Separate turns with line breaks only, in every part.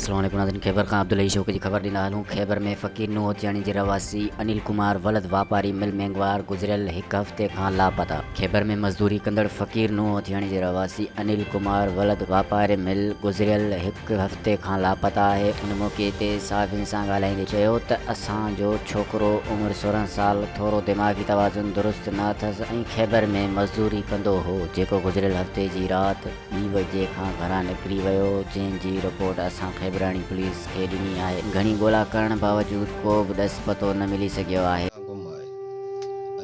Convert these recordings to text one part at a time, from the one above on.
سرهاڻي پڻاندن خيبر کان عبدالحئي شوقي جي خبر ڏيندا هلون خيبر ۾ فقير نوحوتياڻي جي رهواسي انيل ڪمار ولد واپاري مل مينگوار گذريل هڪ هفتي کان لاپتا. خيبر ۾ مزدوري ڪندڙ فقير نوحوتياڻي جي رهواسي انيل ڪمار ولد واپاري مل گذريل هڪ هفتي کان لاپتا آهي ان موقعي تي صحافين سان ڳالهائيندي چيو ته اسان جو ڇوڪرو عمر سورهن سال ٿورو دماغي توازن درست نه اٿس ۽ خيبر ۾ مزدوري ڪندو هو جيڪو گذريل هفتي جي رات ٻي بجي کان گهران نڪري ويو جنهن جي رپورٽ اسان کيبراڻي پوليس کي ڏني آهي گهڻي ڳولا ڪرڻ باوجود ڪو به ڏس پتو نه ملي سگهيو آهي. ڪا گم آهي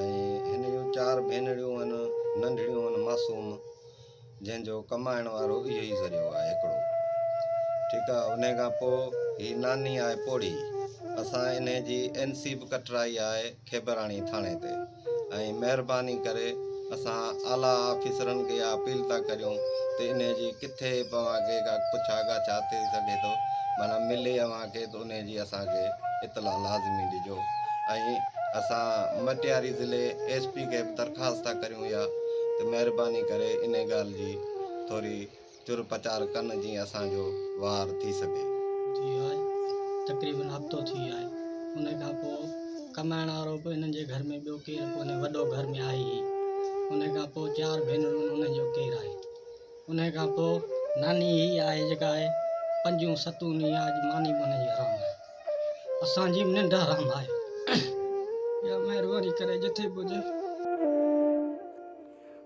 ۽
هن جون چار ڀينريون هن ننڍڙيون هن معصوم جنهن جو ڪمائڻ وارو اهو ئي ذريعو آهي هڪڙو ٺيڪ آهي انهي کان پوء هي ناني آهي پوڙهي اسان انهي جي اين سي به ڪٽرائي آهي کيبراڻي ٿاڻي تي ۽ مهرباني ڪري اسان اعليٰ آفيسرن کي اها اپيل ٿا ڪريون ته انهي جي ڪٿي به اوهان کي ڪا پڇا ڳاڇا ٿي سگهي ٿو معنيٰ ملي اوهان کي ته انهي جي اسان کي اطلاع لازمي ڏجو ۽ اسان مٽياري ضلعي ايس پي کي به درخواست ٿا ڪريون اها ته مهرباني ڪري انهي ڳالهه جي ٿوري چر پچار ڪن جيئن اسان جو وار ٿي سگهي. ٿي آهي
تقريبن هفتو ٿي آهي انهي کان پوء ڪمائڻ وارو به انهن جي گهر ۾ ٻيو ڪير ڪونهي وڏو گهر ۾ آهي هي انهي کان پوء چار ڀينرون انهن جو ڪير آهي انهي کان پوء ناني هي آهي جيڪا آهي پنجون ستون ڏينهن آهي اڄ ماني به انهي جي حرام آهي اسان جي به ننڊ حرام آهي يا مهرباني ڪري جتي به هجي.